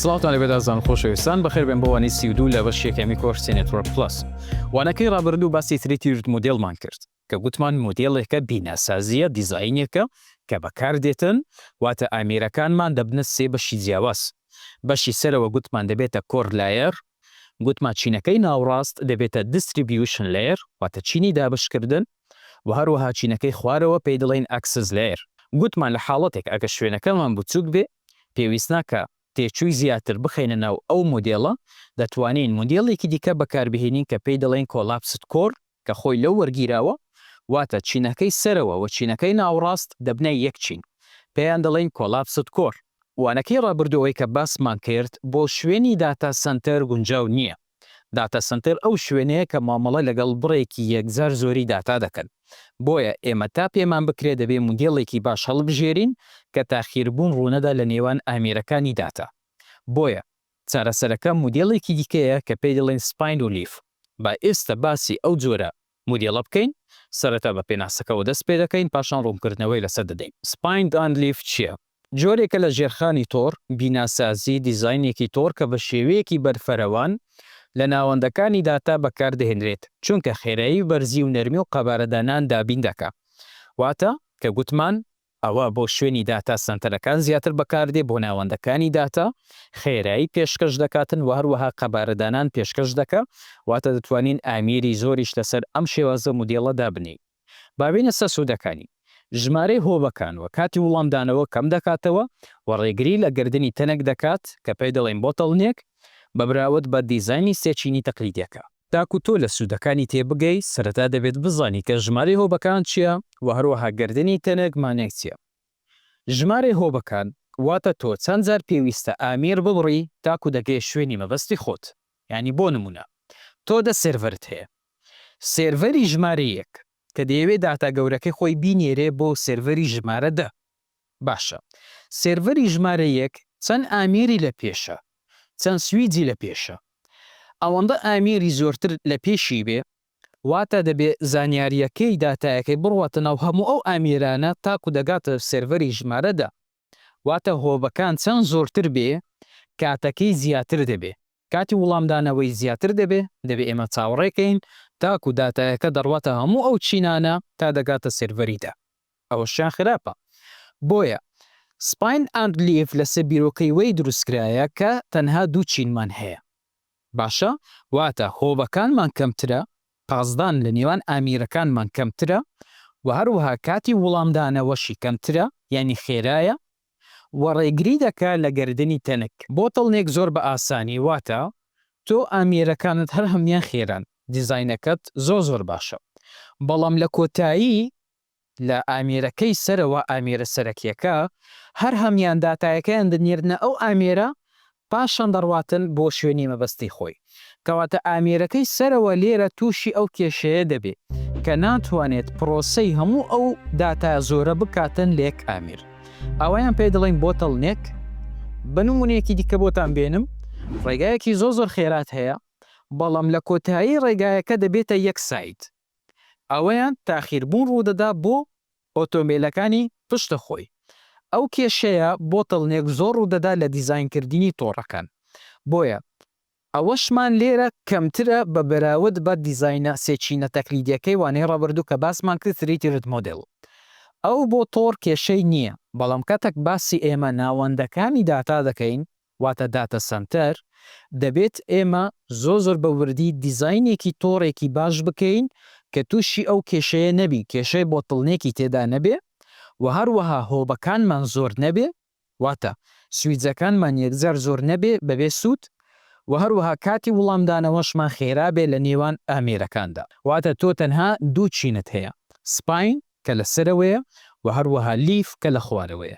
سڵاوتان لەبێت ئازان خۆشەویستان بەخێربێن بۆ وانی سی و دوو لە بەش یەکەمی کۆرسی نێتوەرک پلس وانەکەی ڕابردوو باسی تری تیرت مدلمان کرد کە گوتمان مدلێکە بیناسازیە دیزایینێکە کە بەکار دێتن واتە ئامیرەکانمان دەبنە سێ بەشی جیاواز بەشی سەرەوە گوتمان دەبێتە کۆر لایەر گوتمان چینەکەی ناوڕاست دەبێتە دیستریبیوشن لێر واتە چینی دابشکردن و هەروەها چینەکەی خوارەوە پێی دڵین ئەکسس لێر گوتمان لە حاڵەتێک ئەگە شوێنەکەمان بچووک بێ پێویستناکا تێچووی زیاتر بخەینە ناو ئەو مودێڵە، دەتوانین مودێڵێکی دیکە بەکاربهێنین کە پێی دەڵێین کۆلاپست کۆر کە خۆی لەو وەرگیراوە، واتە چینەکەی سەرەوە و چینەکەی ناوەڕاست دەبنە یەک چین، پێیان دەڵێین کۆلاپست کۆر. وانەکەی ڕابردوو ئەوەی کە باسمان کرد بۆ شوێنی داتا سەنتەر گونجاو نییە، داتا سەنتەر ئەو شوێنەیە کە مامەڵە لەگەڵ بڕێکی یەکجار زۆری داتا دەکەن، بۆیە ئێمە تا پێمان بکرێت دەبێت مودێڵێکی باش هەڵبژێرین کە تاخیربوون ڕوونەدا لە نێوان ئامێرەکانی داتا، بۆیە چارەسەرەکە مودێڵێکی دیکەیە کە پێی دەڵێن سپاین و لیف، با ئێستا باسی ئەو جۆرە مودێلە بکەین، سەرەتا بە پێناسەکەوە دەست پێدەکەین پاشان ڕوونکردنەوەی لەسەر دەدەین. Spine and Leaf چییە؟ جۆرێکە لە ژێرخانی تۆڕ، بیناسازی، دیزاینێکی تۆڕ کە بە شێوەیەکی بەرفەرەوان لە ناوەندەکانی داتا بەکاردەهێنرێت چونکە خێرایی و بەرزی و نەرمی و قەبارەدانان دابین دەکا واتە کە گوتمان، ئەوە بۆ شوێنی داتا سەنتەرەکان زیاتر بەکاردێ بۆ ناوەندەکانی داتا خێرایی پێشکەش دەکاتن وە هەروەها قەبارە دانان پێشکەش دەکا واتە دەتوانین ئامیری زۆریش لەسەر ئەم شێوازە مودێڵە دابنێین با بێینە سەر سودەکانی ژمارەی هۆبەکان وە کاتی وڵامدانەوە کەم دەکاتەوە وە ڕێگری لە گردنی تەنک دەکات کە پێی دەڵێین بۆتڵنێک بە براوت بە دیزاینی سێ چینی تەقلیدیەکە. تاکو تۆ لە سوودەکانی تێبگەی، سەرەتا دەبێت بزانی کە ژمارەی هۆبەکان چییە و هەروەها گەردنی تەنک مانای چییە. ژمارەی هۆبەکان واتە تۆ چەند جار پێویستە ئامێر ببڕی تاکو دەگەیە شوێنی مەبەستی خۆت. یانی بۆ نموونە تۆ دە سێرڤەرت هەیە. سێرڤەری ژمارە یەک کە دەیەوێت داتا گەورەکەی خۆی بینێرێ بۆ سێرڤەری ژمارە دە. باشە سێرڤەری ژمارە یەک چەند ئامیری لە پێشە چەند سویجی لە پێشە ئەوەندە ئامیری زۆرتر لە پێشی بێ واتە دەبێ زانیاریەکەی داتایەکەی بڕواتە ناو هەموو ئەو ئامیرانە تاکو دەگاتە سێرڤەری ژمارە دە واتە هۆبەکان چەند زۆرتر بێ کاتەکەی زیاتر دەبێ کاتی وڵامدانەوەی زیاتر دەبێ دەبێ ئێمە چاوەڕێ کەین تاکو داتایەکە دەڕواتە هەموو ئەو چینانە تا دەگاتە سێرڤەری دە ئەوەشیان خراپە بۆیە سپاین ئاند لیڤ لەسەر بیرۆکەی وەی دروستکرایە کە تەنها دوو چینمان هەیە باشە واتە هۆبەکانمان کەمترە پاسدان لە نێوان ئامیرەکانمان کەمترە وە هەروەها کاتی وڵامدانەوەشی کەمترە یانی خێرایە وە ڕێگری دەکا لە گەردنی تەنک بۆتڵنێک زۆر بە ئاسانی واتە تۆ ئامیرەکانت هەر هەمویان خێران دیزاینەکەت زۆر زۆر باشە بەڵام لە کۆتایی لە ئامێرەکەی سەرەوە ئامێرە سەرەکیەکە هەر هەمیان داتایەکەیان دەنێرنە ئەو ئامێرە پاشان دەڕواتن بۆ شوێنی مەبەستی خۆی کەواتە ئامێرەکەی سەرەوە لێرە توشی ئەو کێشەیە دەبێ کە ناتوانێت پرۆسەی هەموو ئەو داتا زۆرە بکاتن لە یەک ئامێر ئەوەیان پێ دەڵێن بۆتەڵ نێک بە نمونەیەکی دیکە بۆتان بێنم ڕێگایەکی زۆ زۆر خێرات هەیە بەڵام لە کۆتایی ڕێگایەکە دەبێتە یەک ساید ئەوەیان تاخیربوون ڕوودەدا بۆ ئۆتۆمبێلەکانی پشت خۆی. ئەو کێشەیە بۆتڵنێک زۆر ڕوودەدا لە دیزاینکردنی تۆڕەکان، بۆیە ئەوەشمان لێرە کەمترە بە بەراود بە دیزاینە سێ چینە تەقلیدیەکەی وانەی ڕابردوو کە باسمان کرد تریتی رد مۆدێل ئەو بۆ تۆڕ کێشەی نییە بەڵام کاتێک باسی ئێمە ناوەندەکانی داتا دەکەین واتە داتە سەنتەر، دەبێت ئێمە زۆر زۆر بە وردی دیزاینێکی تۆڕێکی باش بکەین کە تووشی ئەو کێشەیە نەبین، کێشەی بۆتڵنێکی تێدا نەبێ و هەروەها هۆبەکانمان زۆر نەبێ، واتە سویچەکانمان یەکجار زۆر نەبێ بەبێ سوود و هەروەها کاتی وڵامدانەوەشمان خێرا بێ لە نێوان ئامێرەکاندا. واتە تۆ تەنها دوو چینت هەیە، سپاین کە لە سەرەوەیە و هەروەها لیف کە لە خوارەوەیە.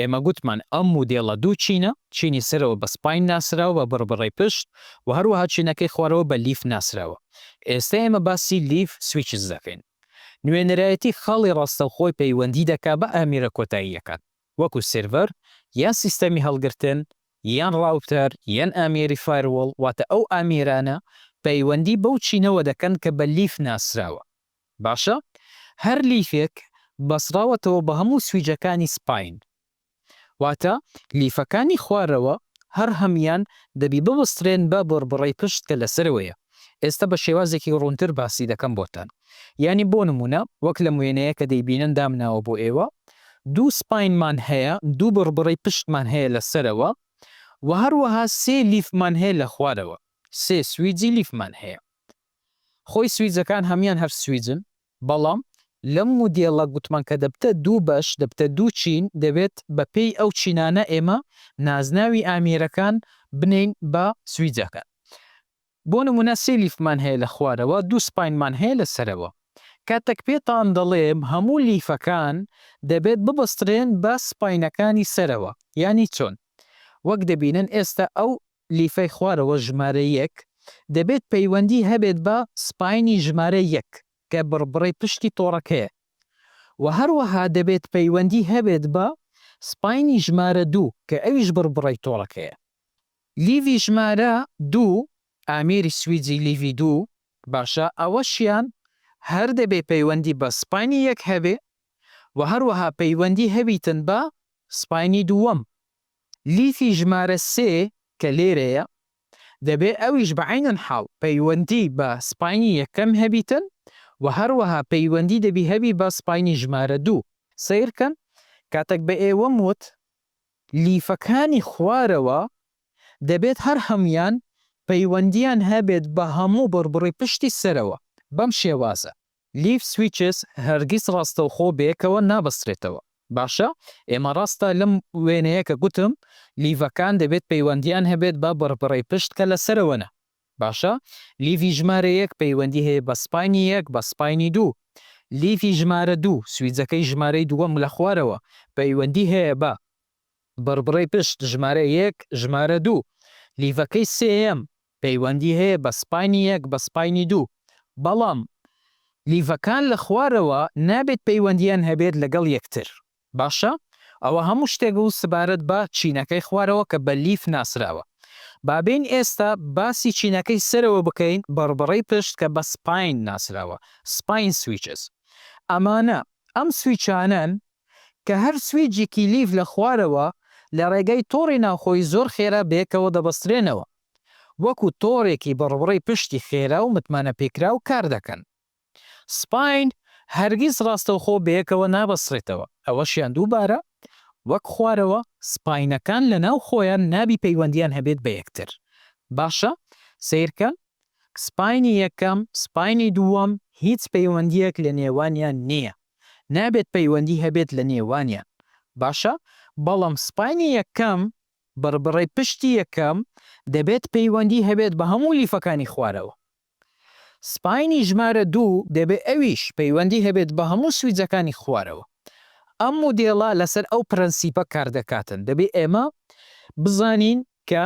ئێمە گوتمان ئەم مودێڵە دوو چینە، چینی سەرەوە بە سپاین ناسراوە بە بڕبڕەی پشت و هەروەها چینەکەی خوارەوە بە لیف ناسراوە. ئێستە ئێمە باسی لیف سویچز دەکەین. نوێنەرایەتی خاڵی ڕاستەوخۆی پەیوەندی دەکات بە ئامێرە کۆتاییەکان، وەکو سێرڤەر یان سیستەمی هەڵگرتن یان ڕاوتەر یان ئامێری فایروڵ، واتە ئەو ئامێرانە پەیوەندی بەو چینەوە دەکەن کە بە لیف ناسراوە. باشە هەر لیفێک بەسڕاوەتەوە بە هەموو سویجەکانی سپاین واتە لیفەکانی خوارەوە هەر هەمیان دەبی ببسرێن بە بڕبڕەی پشت کە لەسەرەوەیە ئێستا بە شێوازێکی ڕوونتر باسی دەکەم بۆتان یانی بۆ نموونە وەک لەم وێنەیە کە دەیبینن دامناوە بۆ ئێوە دوو سپاینمان هەیە دوو بڕبڕەی پشتمان هەیە لە سەرەوە وە هەروەها سێ لیفمان هەیە لە خوارەوە سێ سویجی لیفمان هەیە خۆی سویجەکان هەمویان هەر سویجن بەڵام لەم مودێڵە گوتمان کە دەبتە دوو بەش دەبتە دوو چین دەبێت بە پێی ئەو چینانە ئێمە نازناوی ئامێرەکان بنێین بە سویجەکان بۆ نمونە سێ لیفمان هەیە لە خوارەوە دوو سپاینمان هەیە لە سەرەوە کاتەک پێتان دەڵێم هەموو لیفەکان دەبێت ببەسترێن بە سپاینەکانی سەرەوە یانی چۆن وەک دەبینن ئێستا ئەو لیفەی خوارەوە ژمارە یەک، دەبێت پەیوەندی هەبێت بە سپاینی ژمارە یەک کە بڕبڕەی پشتی تۆڕەکەیە و هەروەها دەبێت پەیوەندی هەبێت بە سپاینی ژمارە دوو کە ئەویش بڕبڕەی تۆڕەکەیە. لیڤی ژمارە دوو، ئامێری سویجی لیڤی دوو، باشە ئەوەشیان هەر دەبێ پەیوەندی بە سپاینی یەک هەبێ و هەروەها پەیوەندی هەبیتن بە سپاینی دووەم لیفی ژمارە سێ کە لێرەیە دەبێ ئەویش بە عەینەن حاڵ پەیوەندی بە سپاینی یەکەم هەبیتن و هەروەها پەیوەندی دەبی هەبی بە سپاینی ژمارە دوو. سەیر کەن کاتەک بە ئێوەم وت لیفەکانی خوارەوە دەبێت هەر هەموویان پەیوەندیان هەبێت بە هەموو بڕبڕی پشتی سەرەوە بەم شێوازە. لیفت سویچس هەرگیز ڕاستەوخۆ بەیەکەوە نابەسترێتەوە باشە ئێمە ڕاستە لەم وێنەیە کە گوتم لیڤەکان دەبێت پەیوەندیان هەبێت بە بڕبڕەی پشت کە لەسەرەوەنە باشە لیڤی ژمارە یەک پەیوەندی هەیە بە سپاینی یەک بە سپاینی دوو لیڤی ژمارە دوو سویجەکەی ژمارەی دووەم لەخوارەوە پەیوەندی هەیە بە بڕبڕەی پشت ژمارە یەک ژمارە دوو لیڤەکەی سێیەم پەیوەندی هەیە بە سپاینی یەک بە سپاینی دوو بەڵام لیڤەکان لە خوارەوە نابێت پەیوەندیان هەبێت لەگەڵ یەکتر باشە ئەوە هەموو شتێک بوو سبارەت بە چینەکەی خوارەوە کە بە لیڤ ناسراوە با بێین ئێستا باسی چینەکەی سەرەوە بکەین بڕبڕەی پشت کە بە سپاین ناسراوە Spine Switches ئەمانە ئەم سویچانەن کە هەر سویجێکی لیڤ لە خوارەوە لە ڕێگای تۆڕی ناوخۆی زۆر خێرا بەیەکەوە دەبەسترێنەوە وەکو تۆڕێکی بڕبڕەی پشتی خێرا و متمانەپێکراو کار دەکەن. سپاین هەرگیز ڕاستەوخۆ بەیەکەوە نابەسترێتەوە، ئەوەشیان دووبارە وەک خوارەوە سپاینەکان لە ناو خۆیان نابی پەیوەندیان هەبێت بە یەکتر. باشە سەیرکە سپاینی یەکەم سپاینی دووەم هیچ پەیوەندیەک لە نێوانیان نیە. نابێت پەیوەندی هەبێت لە نێوانیان باشە بەڵام سپاینی یەکەم بڕبڕەی پشتی یەکەم دەبێت پەیوەندی هەبێت بە هەموو لیفەکانی خوارەوە سپاینی ژمارە دوو دەبێت ئەویش پەیوەندی هەبێت بە هەموو سویجەکانی خوارەوە ئەم مودێڵە لەسەر ئەو پرەنسیپە کاردەکاتن دەبێت ئێمە بزانین کە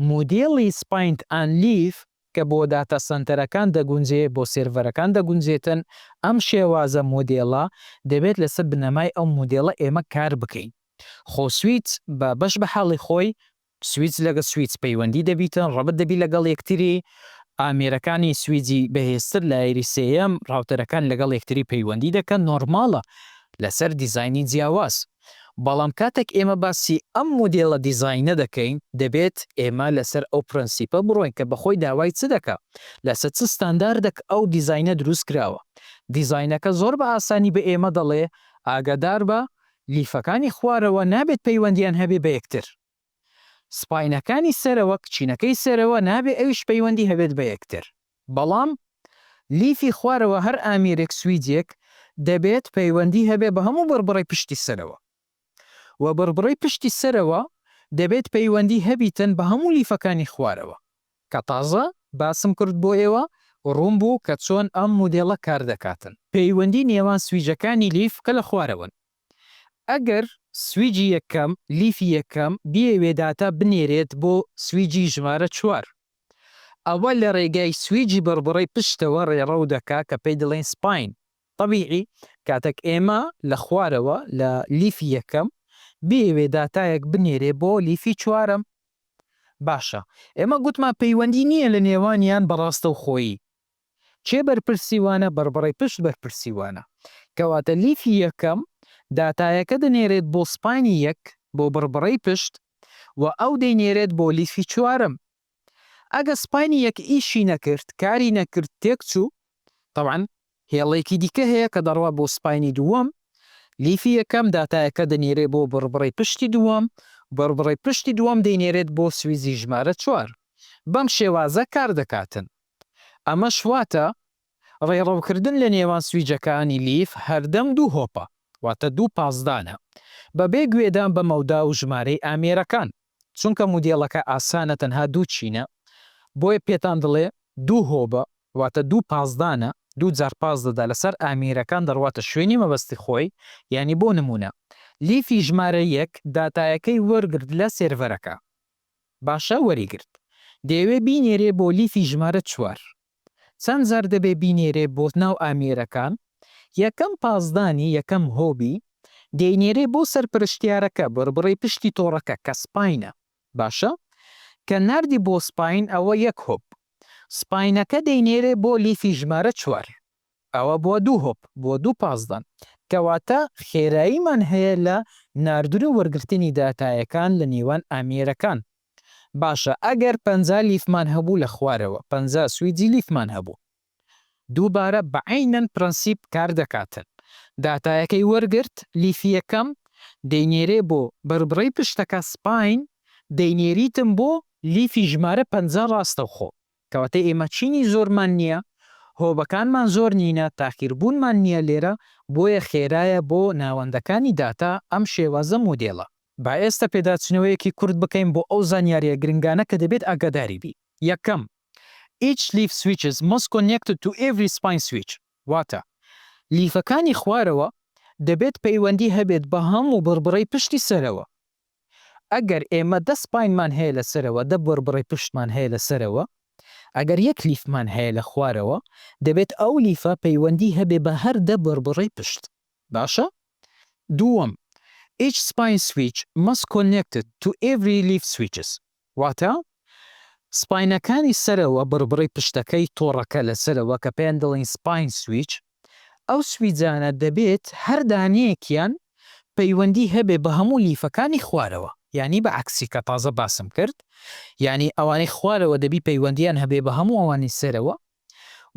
مودێڵی سپاینت ئان لیف کە بۆ داتا سەنتەرەکان دەگونجێ بۆ سێرڤەرەکان دەگونجێتن، ئەم شێوازە مودێڵە دەبێت لەسەر بنەمای ئەو مودێڵە ئێمە کار بکەین. خۆ سویچ بە بەش بە حاڵی خۆی، سویچ لەگە سویچ پەیوەندی دەبیتن، ڕەبت دەبی لەگەڵ یەکتری، ئامێرەکانی سویجی بەهێزتر لایەری سێیەم، ڕاوتەرەکان لەگەڵ یەکتری پەیوەندی دەکەن، نۆرماڵە لەسەر دیزاینی جیاواز. بەڵام کاتێک ئێمە باسی ئەم مودێلە دیزاینە دەکەین، دەبێت ئێمە لەسەر ئەو پرەنسیپە بڕۆین کە بەخۆی داوای چ دەکا، لەسەر چ ستانداردەک ئەو دیزاینە دروست کراوە. دیزاینەکە زۆر بە ئاسانی بە ئێمە دەڵێ ئاگاداربە، لیفەکانی خوارەوە نابێت پەیوەندییان هەبێ بە یەکتر. سپاینەکانی سەرەوە کچینەکەی سەرەوە نابێ ئەویش پەیوەندی هەبێت بە یەکتر بەڵام لیفی خوارەوە هەر ئامیرێک سویدیەک دەبێت پەیوەندی هەبێ بە هەموو بڕبڕەی پشتی سەرەوە وە بڕبڕەی پشتی سەرەوە دەبێت پەیوەندی هەبیتن بە هەموو لیفەکانی خوارەوە کە تازە باسم کرد بۆ ئێوە ڕوون بوو کە چۆن ئەم مودێڵە کار دەکاتن. پەیوەندی نێوان سویجەکانی لیف کە لە خوارەوەن ئەگەر سویجی یەکەم، لیفی یەکەم، بیەوێ داتا بنێرێت بۆ سویجی ژمارە چوار، ئەوە لە رێگای سویجی بڕبڕەی پشتەوە رێڕەو دەکا کە پێی دەڵێین سپاین. تەبیعی کاتەک ئێمە لە خوارەوە لە لیفی یەکەم بیەوێ داتایەک بنێرێ بۆ لیفی چوارەم، باشە ئێمە گوتمان پەیوەندی نییە لە نێوانیان بە راستەوخۆیی، کێ بەرپرسیوانە بەڕبەڕەی پشت بەرپرسیوانە کەواتە لیفی یەکەم داتایەکە دەنێرێت بۆ سپاینی یەک بۆ بەڕبەڕەی پشت و ئەو دەینێرێت بۆ لیفی چوارەم ئەگە سپاینی یەک ئیشی نەکرد کاری نەکرد تێکچوو تەبعەن هێڵێکی دیکە هەیە کە دەڕوات بۆ سپاینی دووەم لیفی یەکەم داتایەکە دەنێرێت بۆ بەڕبەڕەی پشتی دووەم بەڕبەڕەی پشتی دووەم دەینێرێت بۆ سویزی ژمارە چوار بەم شێوازە کار دەکاتن. ئەمەش واتە ڕێڕەوکردن لە نێوان سویجەکانی لیف هەردەم دوو هۆپە، واتە دوو پاسدانە، بەبێ گوێدان بە مەودا و ژمارەی ئامێرەکان. چونکە مودێڵەکە ئاسانە تەنها دوو چینە، بۆیە پێتان دڵێ دوو هۆبە، واتە دوو پاسدانە، دوو جار پاس دەدا لەسەر ئامێرەکان دەڕواتە شوێنی مەبەستی خۆی، یانی بۆ نموونە لیفی ژمارە یەک داتایەکەی وەرگرت لە سێرڤەرەکە. باشە وەری گرت دەیەوێ بینێرێ بۆ لیفی ژمارە چوار چەند جار دەبێ بینێرێ بۆ ناو ئامێرەکان یەکەم پاسدانی یەکەم هۆبی دەینێرێ بۆ سەرپەرشتیارەکە بڕبڕەی پشتی تۆڕەکە کە سپاینە باشە کە ناردی بۆ سپاین ئەوە یەک هۆب سپاینەکە دەینێرێ بۆ لیفی ژمارە چوار ئەوە بۆ دوو هۆپ بۆ دوو پازدەن. کەواتە خێراییمان هەیە لە ناردن و وەرگرتنی داتایەکان لە نێوان ئامێرەکان. باشە ئەگەر پەنجا لیفمان هەبوو لە خوارەوە پەنجا سویجی لیفمان هەبوو. دووبارە بە عەینەن پرەنسیپ کار دەکاتن. داتایەکەی وەرگرت، لیفی یەکەم، دەینێرێ بۆ بەربڕەی پشتەکە، سپاین، دەینێریتن بۆ لیفی ژمارە پەنجا ڕاستەوخۆ. کەواتە ئێمە چینی زۆرمان نییە، هۆبەکانمان زۆر نینە، تاخیربوونمان نییە لێرە، بۆیە خێرایە بۆ ناوەندەکانی داتا ئەم شێوازە مۆدێلە. با ئێستە پێداچنەوەیەکی کورت بکەین بۆ ئەو زانیارییە گرنگانە کە دەبێت ئاگاداری بی. یەکەم، Each leaf switches must connect to every spine switch واتە لیفەکانی خوارەوە دەبێت پەیوەندی هەبێت بە هەموو بڕبڕەی پشتی سەرەوە. ئەگەر ئێمە دە سپاینمان هەیە لە سەرەوە، دە بڕبڕەی پشتمان هەیە لە سەرەوە، ئەگەر یەک لیفمان هەیە لە خوارەوە، دەبێت ئەو لیفە پەیوەندی هەبێ بە هەر دە بڕبڕەی پشت. باشە؟ دووەم، Each spine switch must connected to every leaf switches. واتە، سپاینەکانی سەرەوە بڕبڕەی پشتەکەی تۆڕەکە لە سەرەوە کە پێیان دەڵێین سپاین سویچ، ئەو سویجانە دەبێت هەر دانەیەکیان پەیوەندی هەبێت بە هەموو لیفەکانی خوارەوە یانی بە عەکسی کە تازە باسم کرد یانی ئەوانەی خوارەوە دەبی پەیوەندیان هەبێت بە هەموو ئەوانی سەرەوە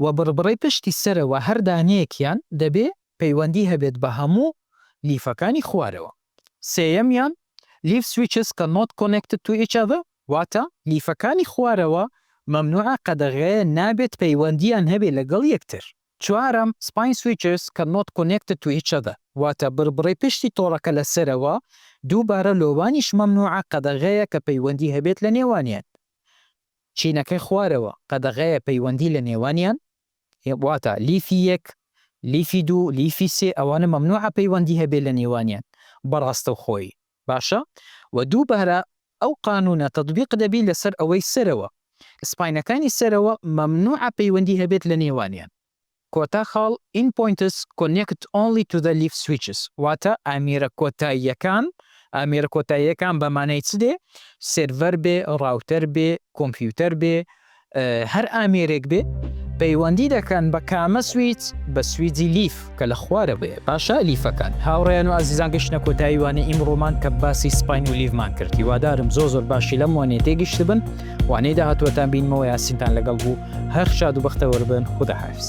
و بڕبڕەی پشتی سەرەوە هەر دانەیەکیان دەبێ پەیوەندی هەبێت بە هەموو لیفەکانی خوارەوە. سێیەمیان، Leaf switches cannot connect to each other، واتە لیفەکانی خوارەوە مەمنوعە قەدەغەیە نابێت پەیوەندییان هەبێ لەگەڵ یەکتر. چوارەم، Spine switches cannot connect to each other، واتە بڕبڕەی پشتی تۆڕەکە لە سەرەوە دووبارە لۆوانیش مەمنوعە قەدەغەیە کە پەیوەندی هەبێت لە نێوانیان. چینەکەی خوارەوە قەدەغەیە پەیوەندی لە نێوانیان واتا لیفی یەک لیفی دوو لیفی سێ ئەوانە مەمنوعە پەیوەندی هەبێ لە نێوانیان بە ڕاستەوخۆی باشە وە دووبارە ئەو قانونە تەتبیق دەبی لەسەر ئەوەی سەرەوە سپاینەکانی سەرەوە مەمنوعە پەیوەندی هەبێت لە نێوانیان کۆتا خاڵ In points connect only to the leaf switches واتە ئامێرە کۆتاییەکان ئامێرە کۆتاییەکان بە مانای چ دێ؟ سێرڤەر بێ، ڕاوتەر بێ، کۆمپیوتەر بێ، هەر ئامێرێک بێ پەیوەندی دەکەن بە کامە سویچ؟ بە سویجی لیف کە لە خوارە بێ باشە لیفەکان هاوڕێن و ئازیزان گەشتە کۆتاییوانە ئیمڕۆمان کە باسی سپین و لیڤمان کرد هیوادارم زۆ زۆر باشی لەم وانێ تێگەشتبن وانەی داهاتووەتان بینمەوە یاسینتان لەگەڵ بوو هەر شاد و بەختەوەربن خوداحافیز.